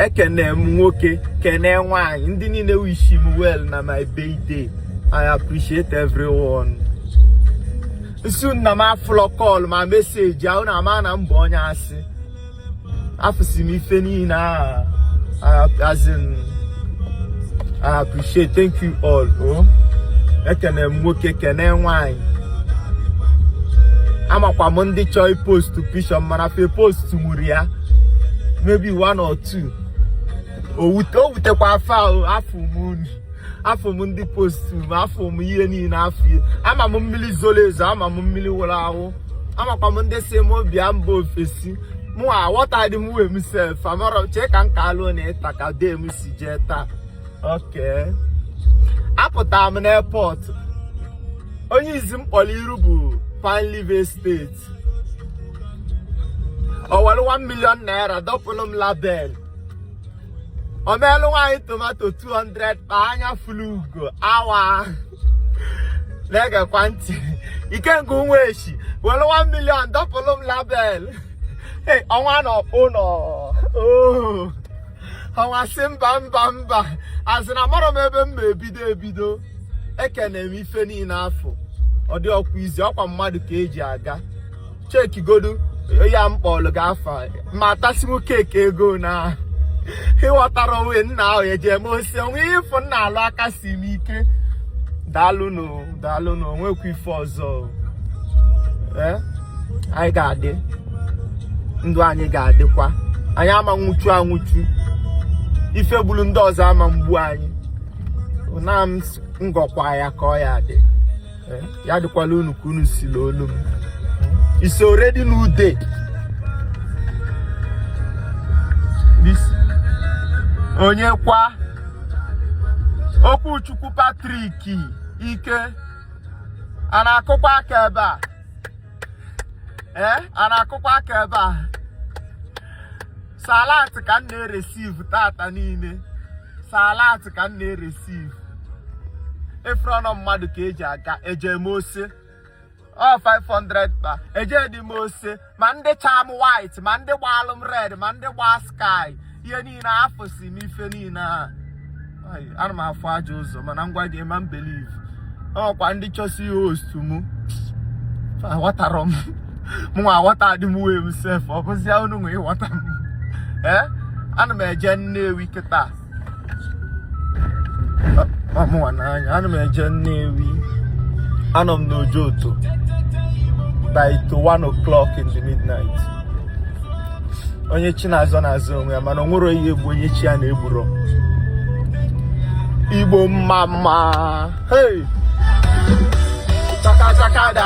ekene m nwoke kene nwanyị ndị niile wish m well na my birthday i appreciate everyone nsu na m afụlọ call ma message ahụ na ama na mbụ onye asị afụsi m ife niile a as in i appreciate thank you all o oh. ekene m nwoke kene nwanyị amakwa m ndị chọọ ipostu picture m mana fe post tụgburu ya maybe one or two o wutekwa fa ahụ afụ m unu afụ m ndị postu m afụ m ihe niile afụ ihe ama m mmiri zoro ezo ama m mmiri wụrụ awụ amakwa m ndị sị m bịa mba ofesi mụ aghọtaghị m onwe m sef amarọ chee ka m ka alụ na ịta ka dee m si jee taa okay apụtara m n'airport onye izi m kpọrọ iru bụ Pineleaf Estate o were 1 million naira dọpụrụ m label o meelụ nwaanyị tomato 200 kpa anya fulu ugo awa na-egekwa ntị Ikenga Ụmụeshi were 1 million dọpụrụ m label ọnwa na Ọkpụnọ ọnwa sị mba mba mba as in amarọ m ebe m ma ebido ebido ekene m ife niile afụ ọ dịrọkwa easy ọkwa mmadụ ka eji aga chekigodu ya m kpọlụ gị afa ma tasimu keeki ego na ịghọtara onwe nna ahụ eji eme osi onwe ịfụ nna alụ aka si m ike daalụnụ daalụnụ o nwekwa ife ọzọ eh? anyị ga-adị ndụ anyị ga-adịkwa anyị ama nwụchu anwụchu ife gburu ndị ọzọ ama mgbu anyị na m ngọkwa ya ka ọ ya-adị eh, ya dịkwalụ unu ka unu si nụ olu m it's already new day onye kwa Okwuchukwu Patrick Ike a na-akụkwa aka ebe a ee eh, a na-akụkwa aka ebe a sọ alert ka m na-receive tata niile sọ alert ka m na-receive ị fụrọ na ọ mmadụ ka eji aga eje m ose ọ 500 kpa eje dị m ose ma ndị cha m white ma ndị gbalụ m red ma ndị gba sky ihe niile afụsi m ife niile a ana m afụ aja ụzọ mana ngwa gị ma m believe ọkwa ndị chọsi ihost mụ aghọtarọ m mụnwa aghọtadị m onwe m sef ọ bụzia unu nwe ịghọta m ee ana m eje Nnewi kịta ọmụnwa n'anya ana m eje Nnewi anọ m n'Ojoto by to one o'clock in the midnight onye chi na-azọ na-azọ onwe ya mana o nwero ihe egbu onye chi ya na-egburo igbo mma mma hey! chaka chaka da